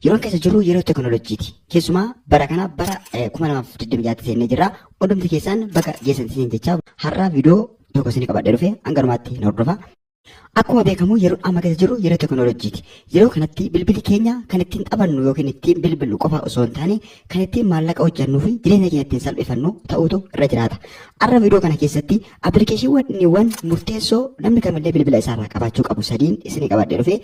Yeroon keessa jirru yeroo teknolojiiti. Keessumaa bara kana bara 2026tti seennee jirra. Hundumti keessaan baga geessan siin jechaa har'a viidiyoo tokko isin qabadhee dhufe hanga dhumaatti na hordofa. Akkuma beekamu yeroo amma keessa jirru yeroo teknolojiiti. Yeroo kanatti bilbili keenya kan ittiin taphannu yookiin ittiin bilbillu qofa osoo hin taane kan ittiin maallaqa hojjannuu fi jireenya keenya ittiin salphifannu ta'uutu irra jiraata. Har'a viidiyoo kana keessatti appilikeeshiniiwwan murteessoo namni kamillee bilbila isaarraa qabaachuu qabu sadiin isin qabadhee dhufe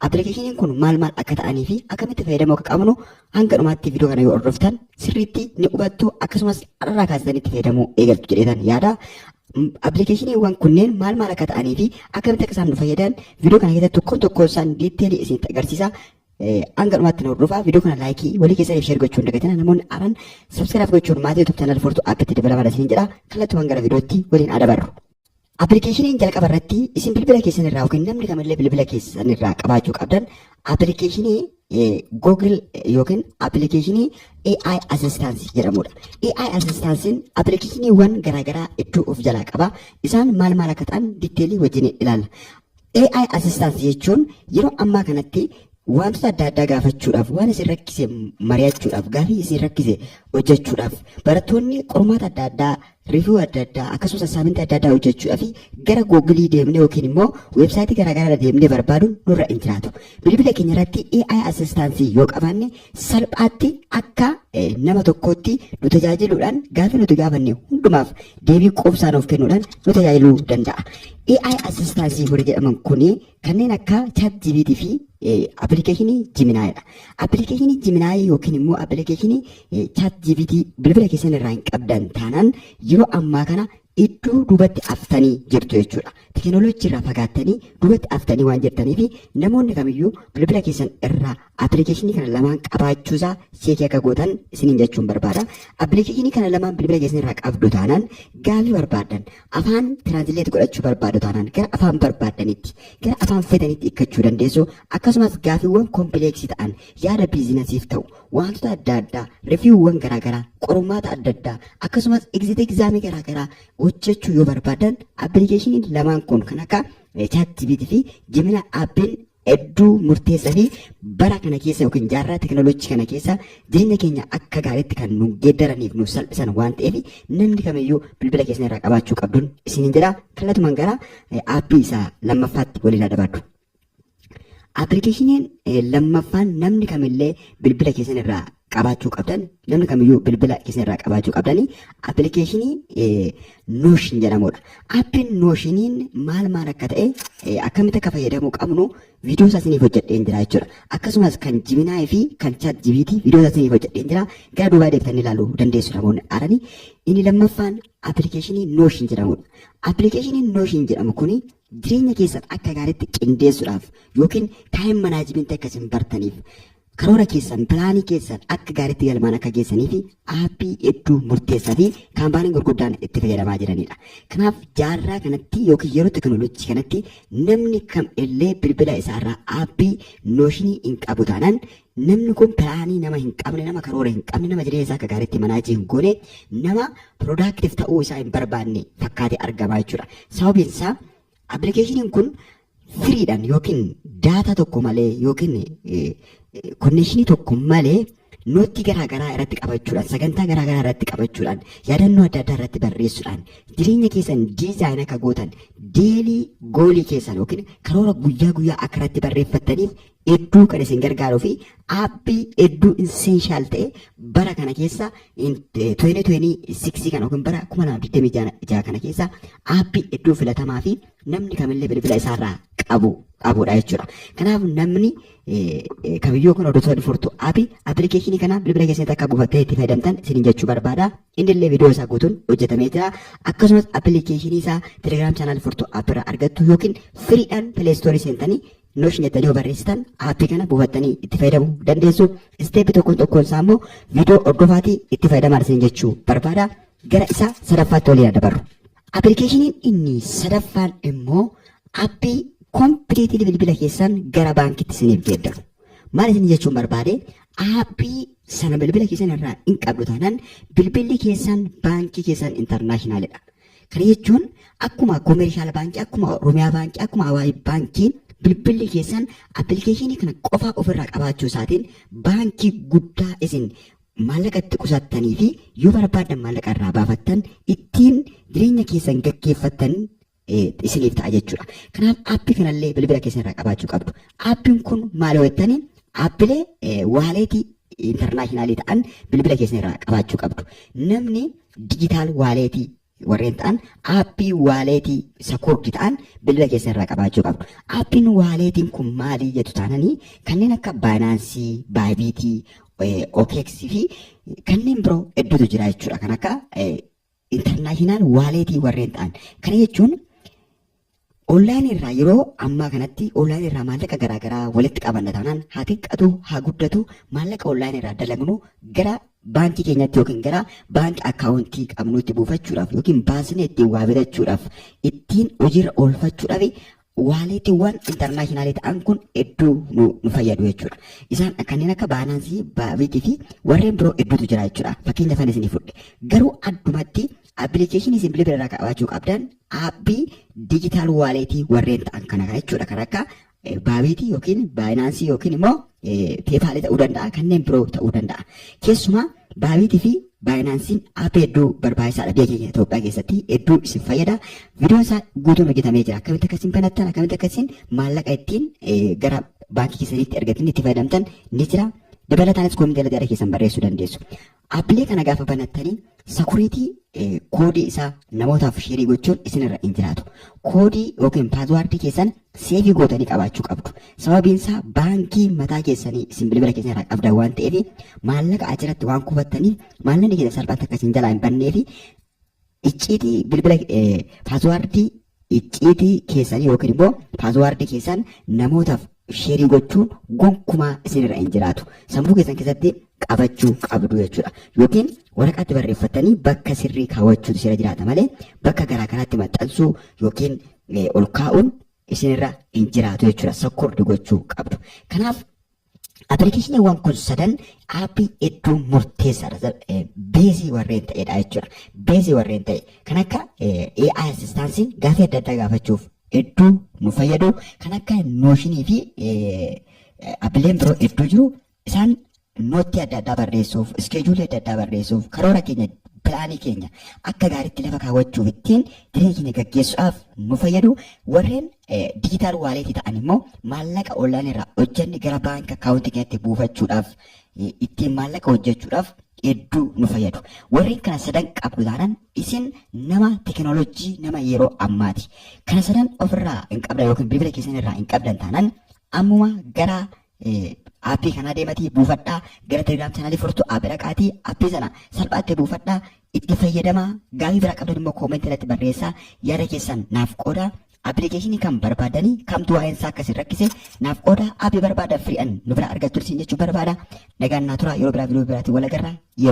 Appilikeeshiniin kun maal maal akka ta'anii fi akkamitti fayyadamuu akka qabnu hanga dhumaatti viidiyoo kana yoo hordoftan sirriitti ni hubattu akkasumas har'arraa kaasitanii itti fayyadamuu eegaltu jedheetan yaada. Appilikeeshiniiwwan kunneen maal maal akka ta'anii fi akkamitti akka isaan nu fayyadan viidiyoo kana keessatti tokkoon tokkoon isaan diiteelii isinitti agarsiisa. Hanga dhumaatti nu hordofaa viidiyoo kana laayikii walii keessaniif sheer gochuun dagatina namoonni haaran sabskiraaf gochuun maatii YouTube channel fortu app itti dabalama isin jedha kallattumaan gara viidiyootti waliin adabarru. Appilikeeshiniin jalqaba irratti isin bilbila keessan irraa yookiin namni kamillee bilbila keessan irraa qabaachuu qabdan appilikeeshinii Google yookiin appilikeeshinii AI Assistance jedhamudha. AI Assistance'n appilikeeshiniiwwan garaagaraa hedduu of jalaa qaba. Isaan maal maal akka ta'an diteelii wajjin ilaalla. AI Assistant jechuun yeroo ammaa kanatti wantoota adda addaa gaafachuudhaaf, waan isin rakkise mari'achuudhaaf, gaafii isin rakkise hojjechuudhaaf, barattoonni qormaata adda addaa, review adda addaa, akkasumas assignment adda addaa hojjechuudhaaf gara Google deemnee yookiin immoo website garaagaraa irra deemnee barbaaduun nurra hin jiraatu. Bilbila keenya irratti AI Assistant yoo qabaanne salphaatti akka nama tokkootti nu tajaajiluudhaan gaaffii nuti gaafanne hundumaaf deebii quubsaa nuuf kennuudhaan nu tajaajiluu danda'a. AI assistaansii warri jedhaman kun kanneen akka chat GPT fi appilikeeshinii Jiminaayidha. Appilikeeshinii Jiminaayii yookiin immoo appilikeeshinii chat GPT bilbila keessan irraa hin qabdan taanaan yeroo ammaa kana iddoo duubatti haftanii jirtu jechuudha. Teekinooloojii irraa fagaattanii duubatti haftanii waan jirtaniif namoonni kamiyyuu bilbila keessan irraa Appilikeeshinii kana lamaan qabaachuu isaa seekii akka gootan isiniin jechuun barbaada. Appilikeeshinii kana lamaan bilbila keessan irraa qabdu taanaan gaafii barbaaddan afaan tiraansileet godhachuu barbaadu taanaan gara afaan barbaaddanitti gara afaan fedhanitti hiikkachuu dandeessu. Akkasumas gaafiiwwan kompileeksii ta'an yaada biizinasiif ta'u wantoota adda addaa riviiwwan garaagaraa qormaata adda addaa akkasumas egzit egzaamii garaagaraa hojjechuu yoo barbaaddan appilikeeshiniin lamaan kun kan akka chaat jibiitii fi jimina aappiin hedduu murteessaa fi bara kana keessa yookiin jaarraa teknolojii kana keessa jireenya keenya akka gaariitti kan nu geeddaraniif nuuf salphisan waan ta'eef namni kamiyyuu bilbila keessan irraa qabaachuu qabduun isiniin jedha kallatumaan gara aappii isaa lammaffaatti waliin adabaadhu. Appilikeeshiniin lammaffaan namni kamillee bilbila keessan irraa qabaachuu qabdan namni kamiyyuu bilbila keessan irraa qabaachuu qabdanii appilikeeshinii nooshin jedhamudha. Appiin nooshiniin maal maal akka ta'e eh, akkamitti akka fayyadamuu qabnu viidiyoo isaa isiniif hojjedheen jira jechuudha. Akkasumas kan Jiminaay fi kan Chaat Jibiitii viidiyoo isaa isiniif hojjedheen jira. Gara duubaa deebitanii ilaaluu dandeessu namoonni haaranii. Inni lammaffaan appilikeeshinii nooshin jedhamudha. Appilikeeshiniin nooshin jedhamu kuni jireenya keessan akka gaariitti qindeessuudhaaf yookiin taayim manaajimentii akka isin bartaniif Karoora keessan, pilaanii keessan akka gaariitti galmaan akka geessaniif aappii hedduu murteessaa fi kaampaaniin gurguddaan itti fayyadamaa jiranidha. Kanaaf jaarraa kanatti yookiin yeroo tekinooloojii kanatti namni kam illee bilbila isaarraa aappii nooshinii hin qabu taanaan namni kun pilaanii nama hin qabne, nama karoora hin qabne, nama jireenya isaa akka gaariitti manaajii hin goone, nama productive ta'uu isaa hin barbaanne fakkaatee argama jechuudha. Sababiin isaa Appilikeeshiniin kun firiidhaan yookiin daataa tokko malee yookiin konneeshinii tokko malee nootii garaa garaa irratti qabachuudhaan sagantaa garaa garaa irratti qabachuudhaan yaadannoo adda addaa irratti barreessuudhaan jireenya keessan diizaayin akka gootan deelii goolii keessan yookiin karoora guyyaa guyyaa akka irratti barreeffattaniif hedduu kan isin gargaaruu fi aappii hedduu insenshaal ta'e bara kana keessa 2026 kana yookiin bara 2026 kana keessa aappii hedduu filatamaa fi namni kamillee bilbila isaarraa qabu qabudha jechuudha. Kanaaf namni kamiyyuu kun hordoftoonni furtuu aappii appilikeeshinii kana bilbila keessatti akka buufattee itti fayyadamtan isin jechuu barbaada. Inni illee viidiyoo isaa guutuun hojjetamee jira. Akkasumas appilikeeshinii isaa Telegram channel furtuu app irraa argattu yookiin firiidhaan pileestoorii seentanii Notion jettanii yoo barreessitan aappii kana buufattanii itti fayyadamuu dandeessu. Isteeppi tokkoon tokkoon isaa immoo viidiyoo hordofaatii itti fayyadamaa isin jechuu barbaada. Gara isa sadaffaatti waliin dabarru. Appilikeeshiniin inni sadaffaan immoo aappii kompiliitilii bilbila keessan gara baankitti isiniif geeddaru. Maal isin jechuun barbaade aappii sana bilbila keessan irraa hin qabdu taanaan bilbilli keessan baankii keessan intarnaashinaaliidha. Kana jechuun akkuma koomeershaal baankii, akkuma Oromiyaa baankii, akkuma Awaash baankiin bilbilli keessan appilikeeshinii kana qofaa ofirraa qabaachuu isaatiin baankii guddaa isin maallaqa itti qusattanii fi yoo barbaaddan maallaqa irraa baafattan ittiin jireenya keessan gaggeeffattan isiniif ta'a jechuudha. Kanaaf aappii kanallee bilbila keessan irraa qabaachuu qabdu. Aappiin kun maal yoo jettanii aappilee waaleetii intarnaashinaalii ta'an bilbila keessan irraa qabaachuu qabdu. Namni Digital wallet warreen ta'an aappii wallet secured ta'an bilbila keessan irraa qabaachuu qabdu. Aappiin wallet kun maali jettu taananii kanneen akka Binance, Bybit, eh, OKX fi kanneen biroo hedduutu jira jechuudha. Kan akka eh, international wallet warreen ta'an. Kana jechuun Online irraa yeroo ammaa kanatti online irraa maallaqa garaa garaa walitti qabanna taanaan haa xiqqatu haa guddatu maallaqa online irraa dalagnu gara baankii keenyatti yookiin gara baanki akkaawuntii qabnuutti buufachuudhaaf yookiin baasnee ittiin waa bitachuudhaaf ittiin hojiirra oolfachuudhaaf waaleetiiwwan intarnaashinaalii ta'an kun hedduu nu, nu fayyadu jechuudha. Isaan kanneen akka baanaansii, baabiitii fi warreen biroo hedduutu jira jechuudha. Fakkeenya fan isinii fudhe. Garuu addumatti appilikeeshinii isin bilbila irraa qabaachuu qabdan aapbii digital wallet warreen ta'an kana jechuudha kan akka baabiitii yookiin baayinaansii yookiin immoo peepaalii ta'uu danda'a kanneen biroo ta'uu danda'a keessumaa baabiitii fi baayinaansiin aappii hedduu barbaachisaadha biyya keenya Itoophiyaa keessatti hedduu isin fayyada viidiyoon isaa guutuun hojjetamee jira akkamitti akkasiin banattan akkamitti akkasiin maallaqa ittiin gara baankii keessaniitti ergatanii itti fayyadamtan ni jira dabalataanis koomii jala jara keessan barreessuu dandeessu Appilii kana gaafa banattanii security eh, koodii isaa namootaaf sheerii gochuun isinirra hin jiraatu. Koodii yookiin paaswaardii keessan seefii gootanii qabaachuu qabdu. Sababiin isaa baankii mataa keessanii isin bilbila keessan irraa qabdan waan ta'eef maallaqa achirratti waan kuufattaniif maallaqni keessan salphaatti akka isin jalaa hin bannee fi icciitii bilbila eh, paaswaardii Icciitii keessan yookiin immoo paaswaardii keessan namootaaf sheerii gochuun gonkumaa isinirra hin jiraatu. Sammuu keessan keessatti qabachuu qabdu jechuudha. Yookiin waraqaatti barreeffattanii bakka sirrii kaawwachuutu isinirra jiraata malee bakka garaa garaatti maxxansuu yookiin eh, ol kaa'uun isinirra hin jiraatu jechuudha. Sakkuurdi gochuu qabdu. Kanaaf Appilikeeshiniiwwan kun sadan aappii hedduu murteessaadha. Beezii warreen ta'edha jechuudha. Beezii warreen ta'e kan akka AI assistaansii gaafii adda addaa gaafachuuf hedduu nu fayyadu kan akka nooshinii fi appileen biroo hedduu jiru isaan noottii adda addaa barreessuuf iskeejuulii adda addaa barreessuuf karoora keenya pilaanii keenya akka gaariitti lafa kaawwachuuf ittiin jireenya keenya gaggeessuudhaaf nu fayyadu warreen Digital wallet ta'an immoo maallaqa online irraa hojjenne gara baanka akkaawuntii keenyatti buufachuudhaaf ittiin maallaqa hojjechuudhaaf hedduu nu fayyadu. Warreen kana sadan qabdu taanaan isin nama tekinooloojii nama yeroo ammaati. Kana sadan ofirraa hin qabdan yookiin bilbila keessan irraa hin qabdan taanaan ammuma gara Aappii kanaa deematii buufadhaa gara Telegram channel furtu app dhaqaatii appii sana salphaatti buufadhaa itti fayyadamaa gaafii biraa qabdan immoo comment irratti barreessaa yaada keessan naaf qoodaa application kan barbaadanii kamtu waa'een isaa akkasin rakkise naaf qooda app barbaada free an nu bira argattu isin jechuu barbaada nagaan naa tura yeroo biraa video biraatiin wal agarra yeroo